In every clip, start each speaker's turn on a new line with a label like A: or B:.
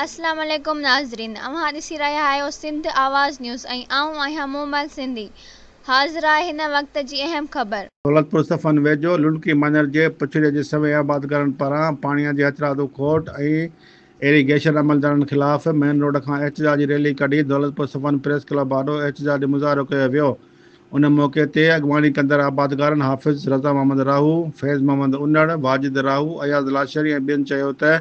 A: اسلام عليڪم ناظرين اوهان ڏسي رهيا آهيو سنڌ آواز نيوز ۽ آئون آهيان مومل سنڌي حاضرآهي هن وقت جي اهم خبر. دولتپور صفن
B: ويجهو لنڊڪي مڃر جي پڇڙي جي سوين آبادگارن پاران پاڻيان جي هٿرادو کوٽ ۽ ايري گيشن عملدارن خلاف مين روڊ کان احتجاجي ريلي ڪڍي دولتپور صفن پريس ڪلب آڏو احتجاجي مظاهرو ڪيو ويو. ان موقعي تي اڳواڻي ڪندڙ آبادگارن حافظ رضا محمد راهو، فيض محمد انڙ، واجد راهو، اياز لاشاري ۽ ٻين چيو ته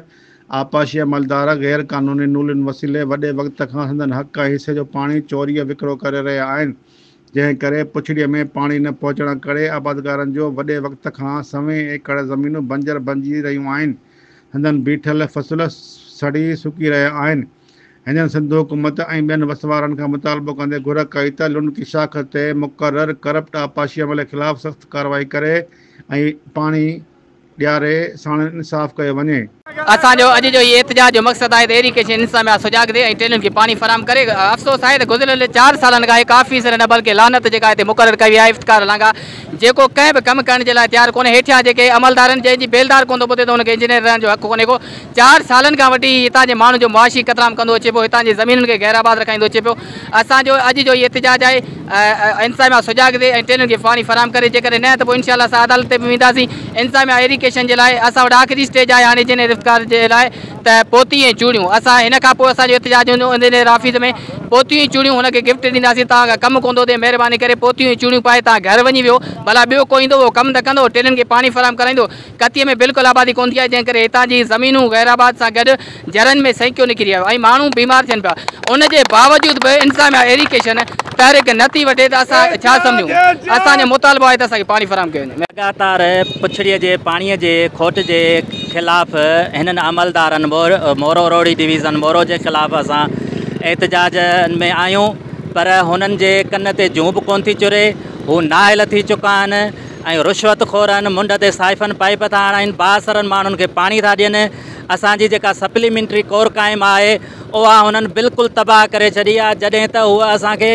B: آبپاشي عملدار غير قانوني نولين وسيلي وڏي وقت کان سندن حق ۽ حصي جو پاڻي چوريء وڪرو ڪري رهيا آهن جنهن ڪري پڇڙيء ۾ پاڻي نه پهچڻ ڪري آبادگارن جو وڏي وقت کان سوين ايڪڙ زمينون بنجر بنجي رهيون آهن سندن بيٺل فصل سڙي سڪي رهيا آهن هنن سنڌ حڪومت ۽ ٻين وس وارن کان مطالبو ڪندي گهر ڪئي ته لنڪي شاخ تي مقرر ڪرپٽ آبپاشي عملي خلاف سخت ڪارروائي ڪري ۽ پاڻي ڏياري ساڻن انصاف ڪيو وڃي. اسان جو اڄ جو
C: هي احتجاج جو مقصد آهي ته ايري ڪيشن انتظاميا سجاڳ ٿئي ۽ ٽيلن کي پاڻي فراهم ڪري. افسوس آهي ته گذريل چار سالن کان هڪ آفيسر نه بلڪه لعنت جيڪا هتي مقرر ڪئي وئي آهي افتخار لانگا جيڪو ڪنهن به ڪم ڪرڻ جي لاء تيار ڪونهي هيٺيان جيڪي عملدارن جنهن جي بيلدار ڪونه ٿو ٻڌي ته ان کي انجنيئر رهڻ جو حق ڪونهي ڪو چار سالن کان وٺي هي هتان جي ماڻهن جو معاشي قتلام ڪندو اچي پيو، هتان جي زمينن کي غير آباد رکائيندو اچي پيو، اسان جو اڄ جو هي احتجاج آهي انتظاميا سجاڳ ٿئي ۽ ٽرينن کي پاڻي فراهم ڪري جيڪڏهن نه ته پوء انشاء الله اسان عدالت تي به وينداسين انتظاميا ايريڪيشن جي لاء اسان وٽ آخري اسٽيج آهي هاڻي جنهن رفتار جي لاء ته پوتيون ۽ چوڙيون اسان هن کان پوء اسان جو احتجاج هوندو انجنيئر آفيس ۾ پوتيون ۽ چوڙيون هن کي گفٽ ڏينداسين توهان کان ڪم ڪوندو ٿئي مهرباني ڪري پوتيون ۽ چوڙيون پائي توهان گهر وڃي ويهو ڀلا ٻيو ڪو ايندو اهو ڪم ته ڪندو ٽرينن کي پاڻي فراهم ڪرائيندو ڪتيء ۾ بلڪل آبادي ڪونه ٿي آهي، جنهن ڪري هتان جي زمينون غيرآباد سان گڏ جرن ۾ سينڪيو نڪري آيو ۽ ماڻهو بيمار ٿين پيا. ان جي باوجود به انتظاميا ايريڪيشن تحرڪ نه ٿي وٺي ته اسان ڇا سمجهون؟ اسان جو مطالبو آهي ته اسان کي پاڻي فراهم ڪيو وڃي. لڳاتار پڇڙيء
D: جي پاڻيء جي کوٽ جي خلاف هنن عملدارن مورو روهڙي ڊويزن مورو جي خلاف اسان احتجاج ۾ آهيون پر هنن جي ڪن تي جون به ڪونه ٿي چري، هو نااهل ٿي چڪا آهن. ۽ رشوت خورن، منڍ تي صائفن پائيپ ٿا هڻائين، بااثرن ماڻهن کي پاڻي ٿا ڏين، اسان جي جيڪا سپليمينٽري ڪور قائم آهي اها هنن بلڪل تباهه ڪري ڇڏي آهي جڏهن ته هوء اسان کي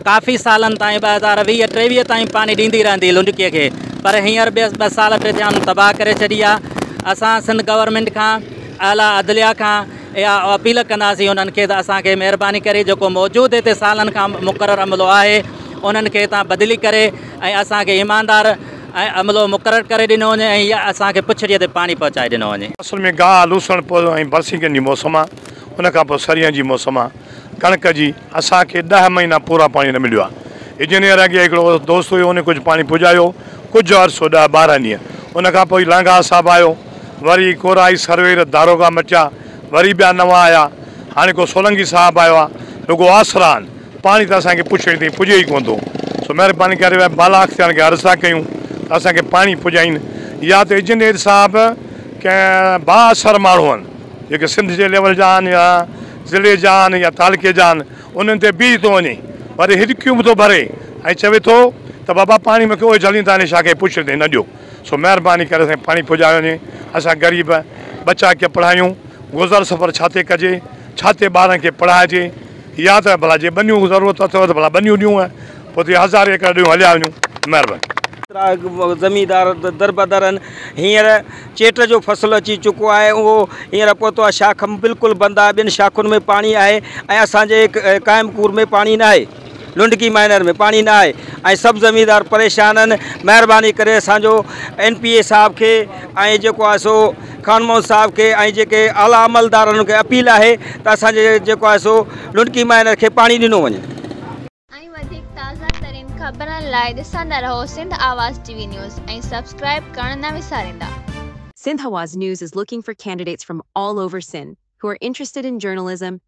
D: ڪافي سالن تائين ٻه هزار ويهه ٽيويهه تائين پاڻي ڏيندي رهندي لنڊڪي کي پر هينئر ٻه سال ٽي ٿيا هنن تباهه ڪري ڇڏي آهي اسان سنڌ گورنمينٽ کان اعليٰ عدليه کان اها اپيل ڪنداسين انهن کي ته اسان کي مهرباني ڪري جيڪو موجود هتي سالن کان مقرر عملو آهي انهن کي هتان بدلي ڪري ۽ اسان کي ايماندار ۽ عملو مقرر ڪري ڏنو وڃي ۽ يا اسان کي پڇڙيء تي پاڻي پهچائي ڏنو وڃي. فصل ۾ گاهه، لوسڻ،
E: پوء ۽ برسينگن جي موسم آ، ان کان پوء سرينهن جي موسم آ، ڪڻڪ جي، اسان کي ڏهه مهينا پورا پاڻي نه مليو آ. اجنير اڳي هڪڙو دوست هيو، ان ڪجهه پاڻي پڄايو، ڪجهه عرصو ڏهه ٻارهن ڏينهن، ان کان پوء لانگاهه صاحب آيو، وري ڪورائي، سروير، داروغا مٽيا، وري ٻيا نوان آيا، هاڻي ڪو سولنگي صاحب آيو آ، رڳو آسرا آهن. پاڻي ته اسان کي پڇڙي تائين پڄي ئي ڪونه ٿو، سو مهرباني ڪري اهي بالا اختيارن کي عرض ٿا ڪيون ته اسان کي پاڻي پڄائين يا ته اجنڊير صاحب ڪنهن بااثر ماڻهون جيڪي سنڌ جي ليول جا آهن يا ضلعي جا آهن يا تعلقي جا آهن انهن تي بيهي ٿو وڃي وري هڏڪيون به ٿو ڀري ۽ چوي ٿو ته بابا پاڻي مون کي اهي جهلين ٿا نشا کي پڇڙي تائين نه ڏيو سو مهرباني ڪري اسان کي پاڻي پڄايو وڃي اسان غريب ٻچا ڪي پڙهايون گذر سفر ڇا تي ڪجي ڇا تي ٻارن کي پڙهائجي. يا ته ڀلا جي ٻنيون ضرورت اٿيو ته ڀلا ٻنيون ڏيون ۽ پوء ٿي هزارين ايڪڙ ڏيون هليا وڃون. مهرباني. ڪيترا
F: زميندار دربدر آهن. هينئر چيٽ جو فصل اچي چڪو آهي اهو هينئر پهتو آهي شاخ بلڪل بند آهي ٻين شاخن ۾ پاڻي آهي ۽ اسان جي قائم پور ۾ پاڻي ناهي لنڊڪي مائنر ۾ پاڻي نه آهي ۽ سڀ زميندار پريشان آهن مهرباني ڪري اسان جو اين پي اي صاحب کي ۽ جيڪو آهي سو خان محمد صاحب کي ۽ جيڪي اعليٰ عملدار انهن کي اپيل آهي ته اسان جي جيڪو آهي سو لنڊڪي مائنر کي پاڻي ڏنو وڃي. ۽ وڌيڪ
A: تازه ترين خبرن لاء ڏسندا رهو Sindh Awaz T V news ۽ subscribe ڪرڻ نه وساريندا. Sindhawaz
G: News is looking for candidates from all over Sindh who are interested in journalism,